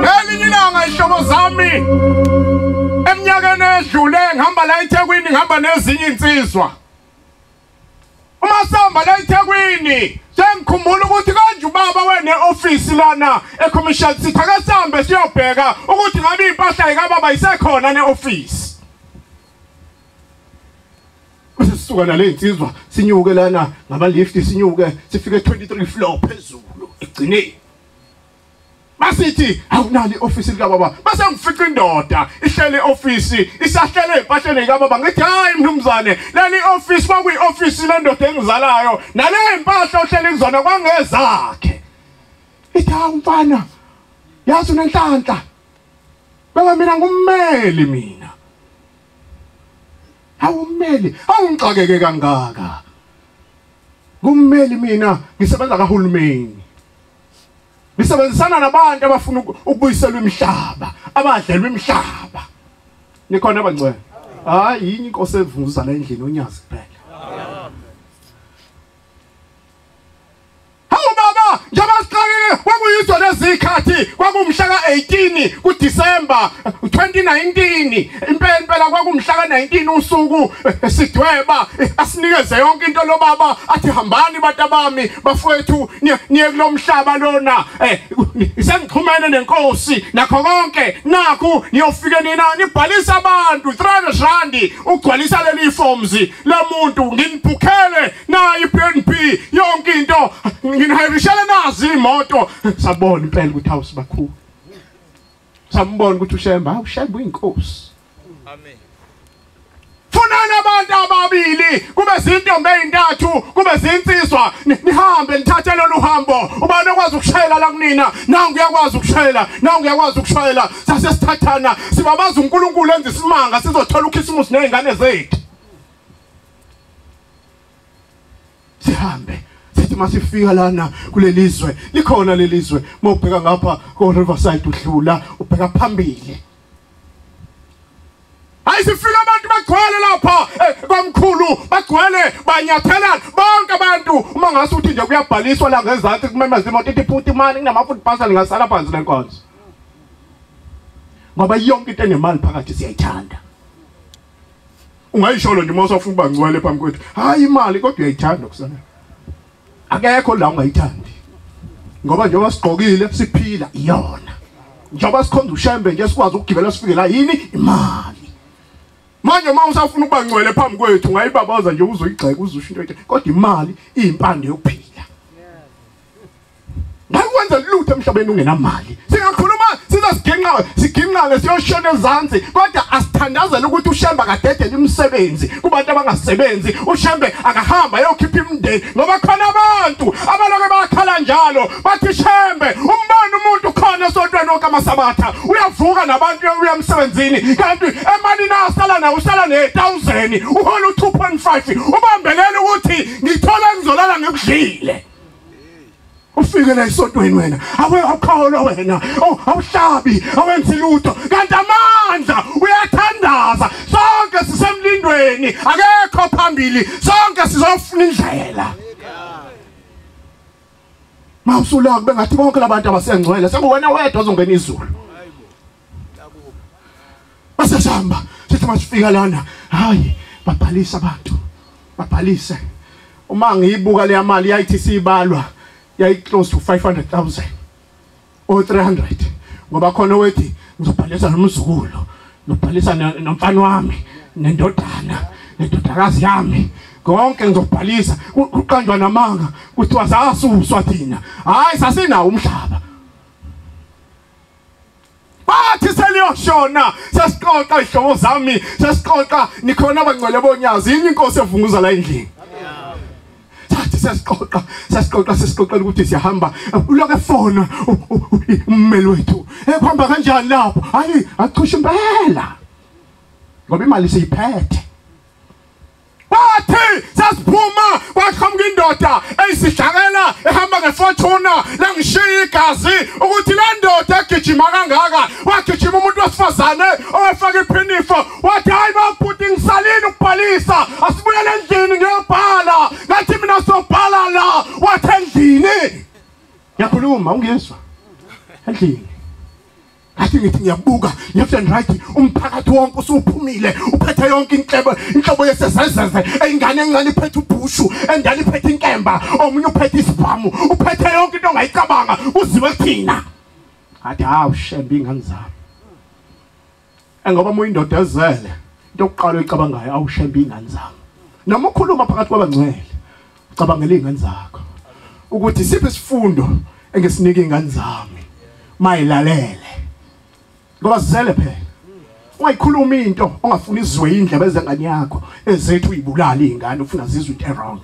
ngelinye ilanga ihlobo zami eminyakeni edlule ngihamba la ethekwini ngihamba nezinye iy'nsizwa uma sihamba la ethekwini sengikhumbula ukuthi konje ubaba wene-ofisi lana ecommercial city ake sihambe siyobheka ukuthi ngabe iy'mpahla yikababa isekhona ne-ofisi bese sisuka nale insizwa sinyuke lana ngama lift sinyuke sifike 23 floor phezulu egcineni basithi awunali office lika baba base ngifica indoda ihlele office isahlele empahleni lika baba ngithi hayi mnumzane leli office kwakuyi office lendoda engizalayo nale impahla ohlele kuzona kwangezakhe ithi hawu mfana yazi unenhlanhla baba mina ngummeli mina Hawu mmeli, awungixakeke kangaka. Kummeli mina ngisebenza kahulumeni. Ngisebenzisana nabantu abafuna ukubuyiselwa imihlaba, abadlelwa imihlaba. Nikhona abangcwele. Hayi yini inkosi evuza la endlini onyazi kuphela. Hawu baba, njengoba siqalile kwakuyizo lezikhathi kwakumhla ka-18 kuDisemba 2019. Impela impela kwakumhla ka-19 usuku eh, sidweba eh, asinikeze yonke into lo baba athi hambani bantu abami bafowethu niye- niye kulo mhlaba lona. Eh, Sengixhumene nenkosi nakho konke nakhu niyofike nina nibhalisa abantu 300 rand ugcwalisa leli forms lomuntu nginibhukhele nayo i-bnb yonke into nginihayirishele nazo iy'moto sabona impela ukuthi hawu sibakhulu sambona ukuthi ushemba hawu shemba uyinkosi amen funani abantu ababili kube zintombi ezintathu kube zinsizwa nihambe nithathe lolu hambo ubani okwazi ukushayela la kunina nangu uyakwazi ukushayela nangu uyakwazi ukushayela sase sithathana sibabaza uNkulunkulu enza isimanga sizothola ukhisimusi nezingane zethu sihambe sithi masifika lana kulelizwe likhona lelizwe mawubheka ngapha ko Riverside udlula ubheka phambili ayisifika abantu bagcwele lapha eh, kwamkhulu bagcwele banyathelana bonke abantu uma ngase uthi nje kuyabhaliswa la ngezansi kumemeza imoto ithi futhi imali kunamafuthi pasal ngasala phansi lenkonzo ngoba yonke into enemali phakathi siyayithanda ungayisholo nje uma usafuna uba ngcwele phambi kwethu hayi imali kodwa uyayithanda kusana akekho la ungayithandi ngoba njengoba sigqokile siphila iyona njengoba sikhonza ushembe nje sikwazi ukugibela sifike la yini imali manje uma usafuna ukuba ngcwele phambi kwethu ngayibabaza nje uzoyigxeka uzusho into ethi kodwa imali iyimpande yokuphila Ngakwenza lutho emhlabeni ungenamali. Singakhuluma sizosigingqa sigingqane siyoshona ezansi kodwa asithandazela ukuthi uShembe akadedele imisebenzi kubantu abangasebenzi. UShembe akahamba ayokhipha imindeni ngoba khona abantu abaloke bakhala njalo bathi Shembe umbona umuntu khona esontweni lonke amasabatha uyavuka nabantu uya emsebenzini kanti emalini asala nayo usala ne-1000 uhola u-2.5 ubambelele ukuthi ngithole engizolala ngikudlile ufike la esontweni wena awe awukholwa wena awuhlabi awenzi lutho kanti amandla uyathandaza sonke sisemlindweni akekho phambili sonke sizofuna indlela mawusula kube ngathi bonke labantu abasengcwele sekuwena wedwa ozongena izulu Base sihamba sithi masifika lana hayi babhalisa abantu babhalise uma ngiyibuka leya mali yayithi siyibalwa yayi close to 500,000 or 300 ngoba khona wethi ngizobhalisa nomzukulu ngibhalisa nomfana wami nendodana nendodakazi yami konke ngizobhalisa kuqanjwa namanga kuthiwa sasuswa thina hayi sasinawo umhlaba bathi seliyoshona sesixoxa izihlobo zami sesixoxa nikhona abangcwele bonyazi yini inkosi evunguza la endlini sathi sesixoxa sesixoxa sesixoxela ukuthi siyahamba uloke fona ummeli wethu ekuhamba eh, kanjani lapho hayi achusha impela ngoba imali siyiphethe bathi sasiphuma kwaqhamuka indoda eyisidlakela ehamba ngefortuna langishiya igazi ukuthi le ndoda egijima kangaka wagijima umuntu wesifazane owefaka iphinifo wathi hayi babhuti ngisalini ukubhalisa asibuyele endlini ngiyobhala ngathi mina sobhala la wathi endlini ngiyakhuluma ungizwa endlini athi ngithi ngiyabuka left and right umphakathi wonke usuphumile uphethe yonke inhlebo inhlobo yesezezeze ingane encane iphethe ubhushu endala iphethe inkemba omunye uphethe isibhamu uphethe yonke into ongayicabanga kuziwe kuthina athi hawu shembe ingane zami engoba uma uyindoda ezele into yokuqala oyicabangayo awushembe ingane zami noma ukhuluma phakathi kwabangcwele cabangela izingane zakho ukuthi siphi isifundo engisinika izingane zami mayilalele ngoba zisele phela ungayikhuluma into ongafuni izwe indlebe ezengane yakho ezethu uyibulala izingane ufuna zizwe into wrong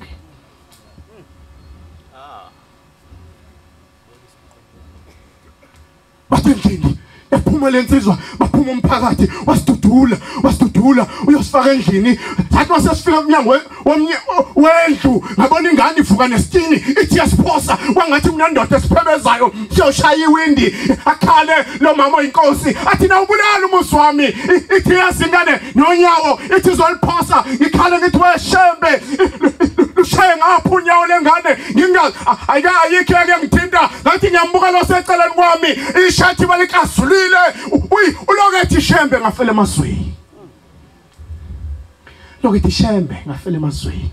basendlini yaphuma lensizwa baphuma umphakathi wasidudula wasidudula uyosifaka endlini sathi masesifika umnyango wendlu ngabona ingane ivuka nesitini ithi yasiphosa kwangathi mina ndoda esiphebezayo siyoshaya iwindi akhale lo mama oyinkosi athi na ubulala umusi wami ithi yazi ingane nonyawo ithi izoliphosa ngikhale ngithi weshembe lushaye ngapha unyawo lengane ngingazi ayika ayikho yake ngithinta ngathi ngiyambuka lo seceleni kwami ishathi balikazulile uyi ulokethi shembe ngafela emazweni lokethi shembe ngafela emazweni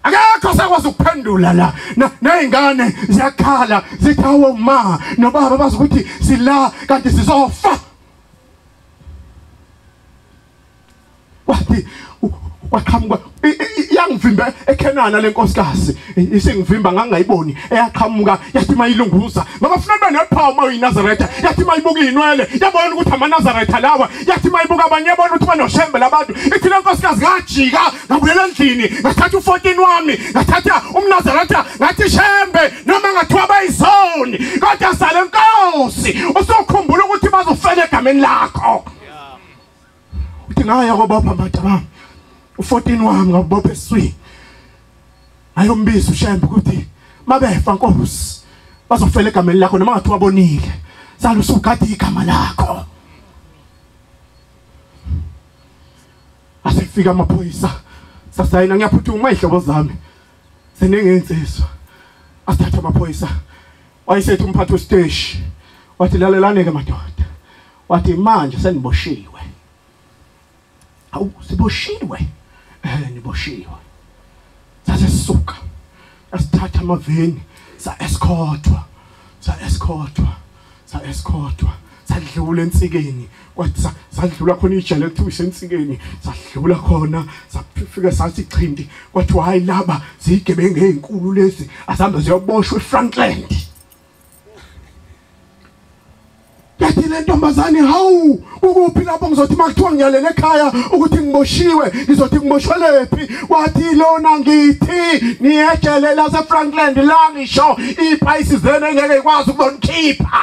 akekho sakwazi ukuphendula la nezingane ziyakhala zithi awu ma nobaba bazi ukuthi sila kanti sizofa wathi waqhamuka yangivimbe ekhenana lenkosikazi isingivimba ngangayiboni eyaqhamuka yathi mayilunguza ngoba funa nibe nephawu uma uyinazaretha yathi mayibuka iyinwele yabona ukuthi amanazaretha lawa yathi mayibuka abanye yabona ukuthi banoshembe labantu ithi lenkosikazi ngajika ngabuyela endlini ngathatha u-14 wami ngathatha umnazaretha ngathi shembe noma ngathiwa bayizoni kodwa sale nkosi usokhumbula ukuthi bazofela egameni lakho uthi ngaya kobopha mbada bami u14 wami ngabopha eswini ayombiza ushembe ukuthi mabefa nkosi bazofela egameni lakho noma ngathi wabonile sala usugade igama lakho asifika amaphoyisa sasayina ngiyaphuthuma izihlobo zami senengentsizwa asithatha amaphoyisa wayesethi umphathi wesiteshi wathi lalelane-ke madoda wathi manje seniboshiwe awu siboshiwe um niboshiwe sase sisuka asithatha amaveni sa-eskothwa sa-eskothwa sa-eskothwa sadlula ensikeni kwathi sadlula khona ijele ekuthiwa isensikeni sadlula khona safika sathi chindi kwathiwa hayi laba ziyigebengu ezinkulu lezi asambe ziyoboshwa eFrankland yathi le ntombazane hawu ukuphi lapho ngizothi makuthiwa ngiyalele ekhaya ukuthi ngiboshiwe ngizothi ngiboshelwephi wathi lona ngithi niyejele laseFrankland la ngisho iphayisi zenu engeke ikwazi ukuzonikhipha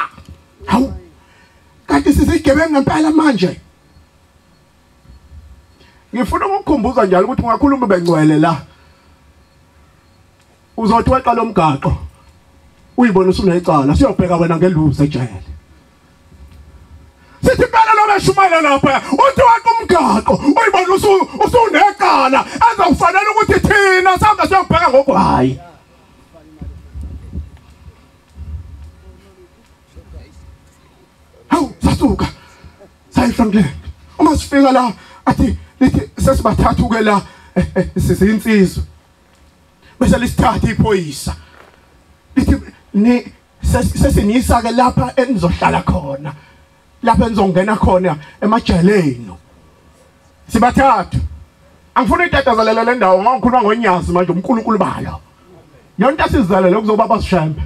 hawu kanti sisigebengu ngempela manje ngifuna ukukukhumbuza njalo ukuthi ungakhuluma bengcwele la uzothi weqa lomgaqo uyibona usunecala siyobheka wena ngeluze ejele sithi impela lo beshumayela lapha uthi waqa umgaqo uyibona usu usunecala azokufanele ukuthi thina sihamba siyobheka ngokwayi hawu sasuka sayi Franklin uma sifika la athi lithi sesibathathu ke la eh, eh, sizinsizwa bese lisithatha iphoyisa lithi ni sesinisa ke lapha enizohlala khona lapha enizongena khona emajeleni sibathathu angifuni itatazalela le ndawo ngoba ngikhuluma ngonyazi manje uNkulunkulu balo yonke asizalele kuzoba basishembe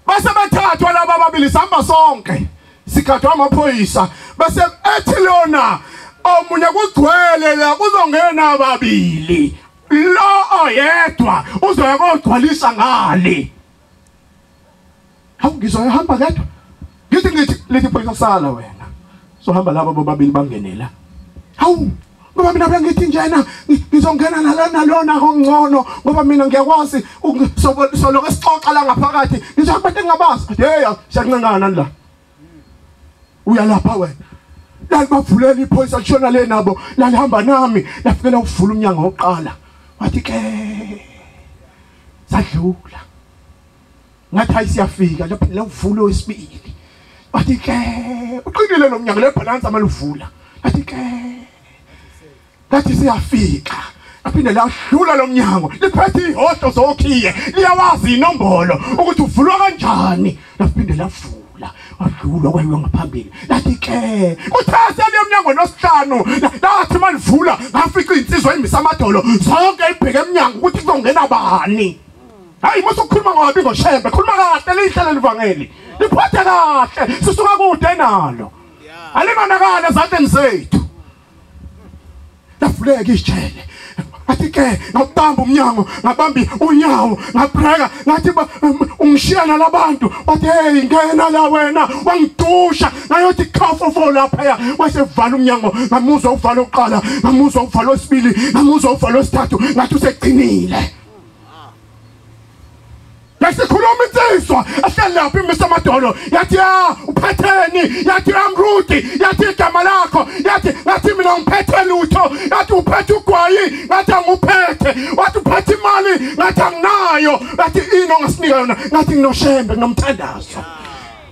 base bethathwa laba ababili sihamba sonke sigadwa amaphoyisa bese ethi lona omunye kugcwele la kuzongena ababili lo oyedwa uzoya kogcwalisa ngale hawu ngizwa ehamba kedwa ngithi ngithi lithi phoyisa sala wena sohamba laba bobabili bangenela hawu ngoba mina bengithi njena ngizongena nalona lona ongcono ngoba mina ngiyakwazi solo esixoxa la ngaphakathi ngisho abantu engabazi hey siyancengana la uyalapha wena lalibavulela iphoyisa lishona le nabo lalihamba nami lafikela ukuvula umnyango wokuqala wathi ke sadlula ngathi hayi siyafika lapho lewuvulo wesibili bathi ke uqinile lo mnyango lebhalansi amaluvula bathi ke ngathi siyafika aphinde lahlula lo mnyango liphethe ihodo zokhiye liyawazi inombolo ukuthi uvulwa kanjani laphinde lavula la wadlula kwayiwe ngaphambili lathi ke uthase le mnyango nosihlanu lathi malivula ngafica insizwa imisa amadolo zonke ibheke emnyango ukuthi kuzongena bani hayi mase ukhuluma ngobi ngoshembe khuluma kahle lihle leli vangeli liphathe kahle sisuka kude nalo alimanakala ezandleni zethu lafuleka isijele athi ke ngabamba umnyango ngabambi unyawo ngabreka ngathi um, ungishiya nalabantu wathi hey ngena la wena wangidusha ngayothi khafu fo lapha wasevala umnyango ngamuzwa uvala oqala ngamuzwa uvala osibili ngamuzwa uvala osithathu ngathi usegcinile besikhuluma insizwa ehleli lapho imisa amadolo yathi ya uphetheni yathi amruti yathi igama lakho yathi ngathi mina ngiphethe lutho yathi uphethe ugwayi ngathi anguphethe wathi uphethe imali ngathi anginayo yathi ini ongasinika yona ngathi nginoshembe nginomthandazo yeah.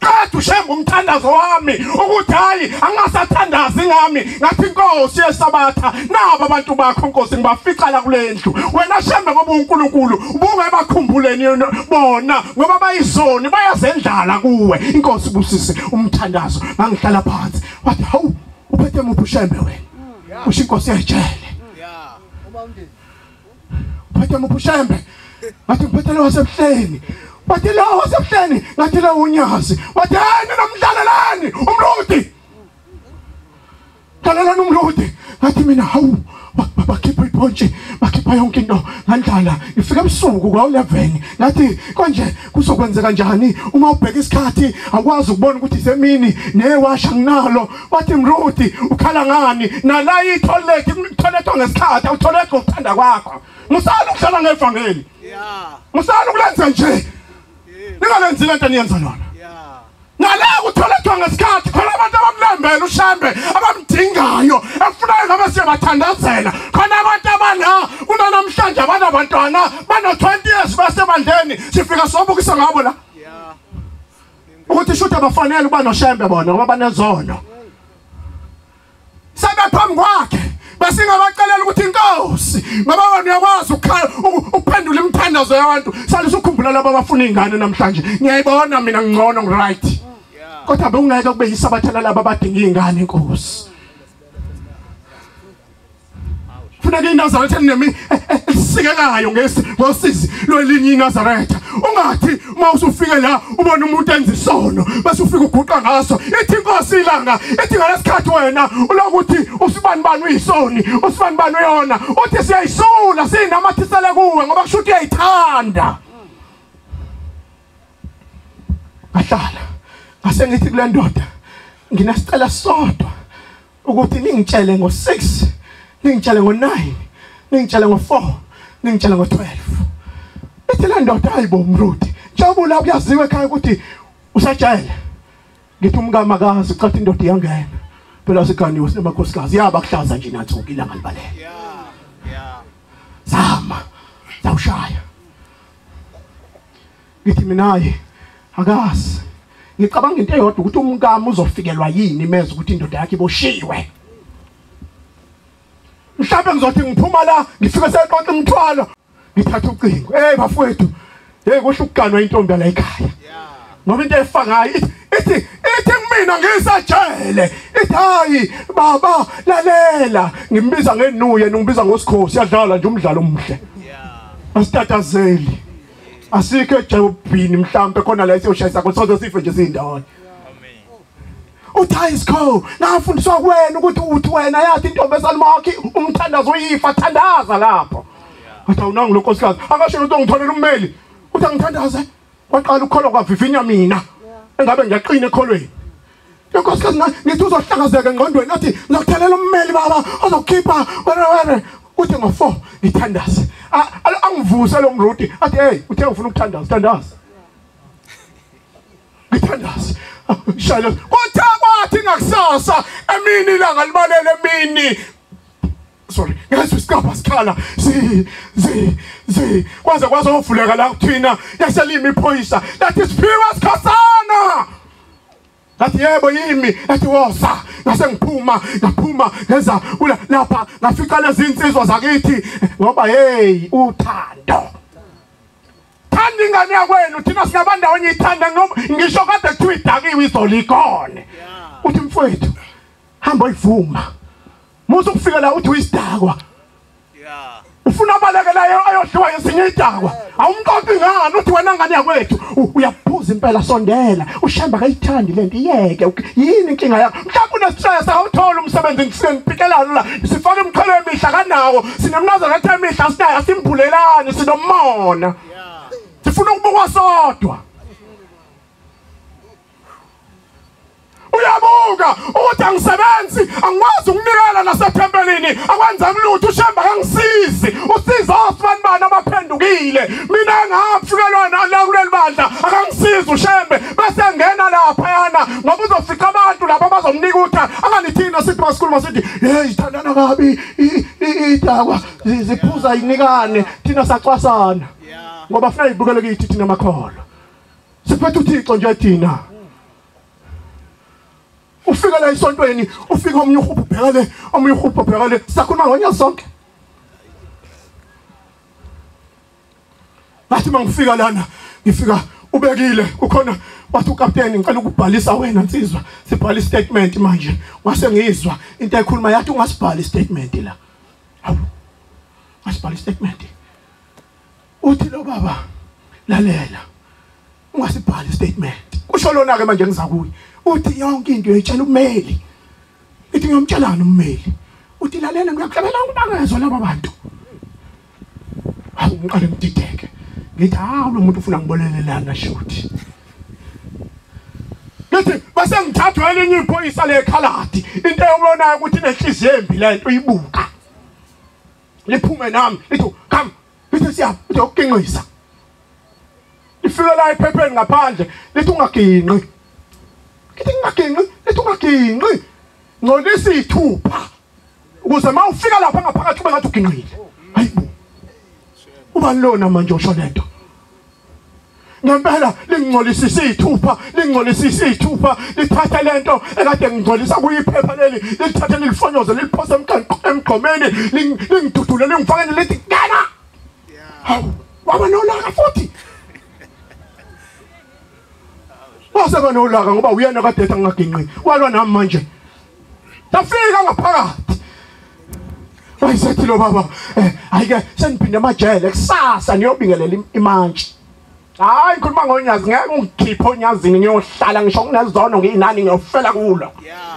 qeda ushem umthandazo wami ukuthi hayi angingasathandazi ngami ngathi inkosi yesabatha nabo abantu bakho nkosi ngibafica la kulendlu wena shembe ngoba uNkulunkulu ubungayibakhumbuleni bona ngoba bayizoni bayazendlala kuwe inkosi busise umthandazo ngangihlala phansi wathi hawu uphethe muphi ushembe wena usho inkosi yejele yeah uma umndeni Phethe muphushembe. Wathi ngiphethe lo wasebuhleni. Wathi lo wasebuhleni ngathi lo unyazi. Wathi yena nomdlalelani umludi. Dlalelani umludi. Ngathi mina hawu bakhipha iphontshe bakhipha yonke into ngandlala ngifika ebusuku kwa-11 ngathi konje kuzokwenzeka njani uma ubheka isikhathi akwazi ukubona ukuthi semini newasha nginalo wathi mruti ukhala ngani nala itholethi itholethwa ngesikhathi awutholethi ngokuthanda kwakho musala ukuhlala ngevangeli musala ukulenza nje ningalenzi lento niyenza lona ngaleka uthola kuthiwa ngesikhathi khona abantu abamlambela ushambe abamdingayo efunayo ngabe siyabathandazela khona abantu abana kunanamhlanje abanabantwana bano-20 years basebandleni sifika sobukisa ngabo la ukuthi shuthi abafanele ukuba noshembe bona ngoba banezono sebephambi kwakhe besingabacelela ukuthi inkosi ngoba wena uyakwazi ukuphendula imithandazo yabantu sale sukhumbula labo abafuna izingane namhlanje ngiyayibona mina ngcono ngiright kodwa bekungeke kube yisabatha lalabo abadinga izingane inkosi funeka inazaretha elinemi eh, eh, elisikekayo ngesi ngosizi lwelinye inazaretha ungathi uma usufike la ubona umuntu enza isono bese ufike uguqa ngaso ithi inkosi ilanga ithi ngalesikhathi wena ulokuthi usibani bani uyisoni usibani bani uyona uthi siyayisula siyinamathisele kuwe ngoba kusho ukuthi uyayithanda ngahlala ngase ngithi kule ndoda nginasicela sodwa ukuthi ningitshele ngo-6 ningitshele ngo-9 ningitshele ngo-4 ningitshele ngo-12 ithi le ndoda hayi bo mruti jabula kuyaziwa ekhaya ukuthi usajele ngithi umkami akazi cathi indoda iyangena phela siganiwe sinemakhosikazi yaba kuhlaza nje nathuka ilanga libalele zama zawushaya ngithi minaye akazi ngicabanga into eyodwa ukuthi umkami uzofikelwa yini imeza ukuthi indoda yakhe iboshiwe mhlawumbe ngizothi ngiphuma la ngifike seqonqa umthwalo ngithatha ucingo hey bafowethu hey kusho ukuganwa intombi la ekhaya ngoba into efa ngayo ithi ithi kumina ngisajele ithi hayi baba lalela ngimbiza ngenuye ngibiza ngosikhosi yadlala nje umdlalo omuhle asitatazeli asikho ejobhini mhlambe khona la isiyoshayisa kodwa soze sife nje sindawonye uthi hayi sikho nafundiswa kuwena ukuthi uthi wena yathi intombi esalumakhi umthandazo uyifa thandaza lapho athi awunangu lonkosikazi akasho lento ngitholela ummeli uthi angithandaze waqala ukukholwa kwavivinya mina engabe ngiyaqina ekholweni Nkosi kazi ngithi uzohlakazeka engqondweni athi ngizokuthalela ummeli baba ozokhipha wena wena uthi ngo4 ngithandaze angivuse lo mrudi athi hey uthe ufuna ukuthandaza thandaza ngithandaze shayela kuthe kwathi ngakusasa emini ilanga libalele emini sorry ngezwe isikapa sikhala zi zi zi kwaze kwazovuleka la kuthina yaselimi iphoyisa that is pure khasana ngathi yebo yimi ethi woza ngase ngiphuma ngaphuma ngeza kula lapha ngafica lezinsizwa zakithi ngoba hey uthando thanda ingane yakwenu thina sinabandawo ngiyithanda noma ngisho kade kuthiwa idakiwe izolo ikone uthi mfowethu hamba uyivuma musa ukufika la uthi uyisidakwa Yeah. ufuna abalekelayo ayodliwa yesinye idakwa awumqoqi ngani uthi wena ngane yakwethu U- uyabhuza impela sondela ushemba akayithandi le nto iyeke uk- yini inkinga yakho mhlawumbe unesitshayesa awuthole umsebenzi ngisengipikelana la sifake imithwalo emihla kanawo sinemnazana athi emihla sinayo asimbhulelani sinomona sifuna ukubukwa sodwa uyabuka ukuthi angisebenzi angikwazi ukunikela nasethempelini akwenza kulutho ushemba kangisizi usiza osibani bani abaphendukile mina engafikelwa nala kuleli bandla akangisizi ushembe bese ngena lapha yana ngoba uzofica abantu lapha abazomnika utha anganithina sithi masikhuluma sithi hey ithandana kabi idakwa ziphuza inikane thina sacwasana ngoba funa ibukele kithi thina makholo siphethe uthixo nje thina ufika la esontweni ufika omunye uhubhu ubheka le omunye uhubhu ubheka le sakhuluma ngonya sonke ngathi mangifika lana ngifika ubekile kukhona wathi ukapteni ngicela ukubhalisa wena nsizwa sibhala istatement manje wase ngizwa into ayikhuluma yathi ungasibhala istatement la hawu ngasibhala istatement uthi lo baba lalela ungasibhali statement kusho lona ke manje ngizakuye uthi yonke into uyitshela ummeli ithi ngiyomtshelana ummeli uthi lalela ngiyakuhlabela ukubangezwa laba bantu hawu ngiqale ngidideke ngithi hawu lo muntu ufuna ngibolelelana shuthi ngithi base ngithathwa elinye iphoyisa lekhaladi into eyobonayo ukuthi inenhliziyo embi lento uyibuka liphume nami lithi come Bese siya uzokuqinqisa. Ifika la ephepheni ngaphandle lithi ungaginqi. Kithi ungaginqi, lithi ungaginqi. Ngcolisa ithupha. Ukuze mawufika lapha ngaphakathi ube ngathi uginqile. Hayibo. Uba lona manje usho lento. ngempela lingcolisa isithupha lingcolisa isithupha lithatha lento ekade ngingcolisa kuyiphepha leli lithathe lilifonyoze liliphose emgqomeni lingidudule lingifakele lithi ngena hawu waba nolaka futhi waseba nolaka ngoba uyena kade ethi angaginqi walwa nami manje Ndafika ngaphakathi. Wayesethi lo baba, eh ayike sengiphinde amajele kusasa niyobingelela imantshi. Hayi ngikhuluma ngonyazi ngeke ungikhiphe onyazini ngiyohlala ngisho kunezono nginani ngiyofela kulo. Yeah.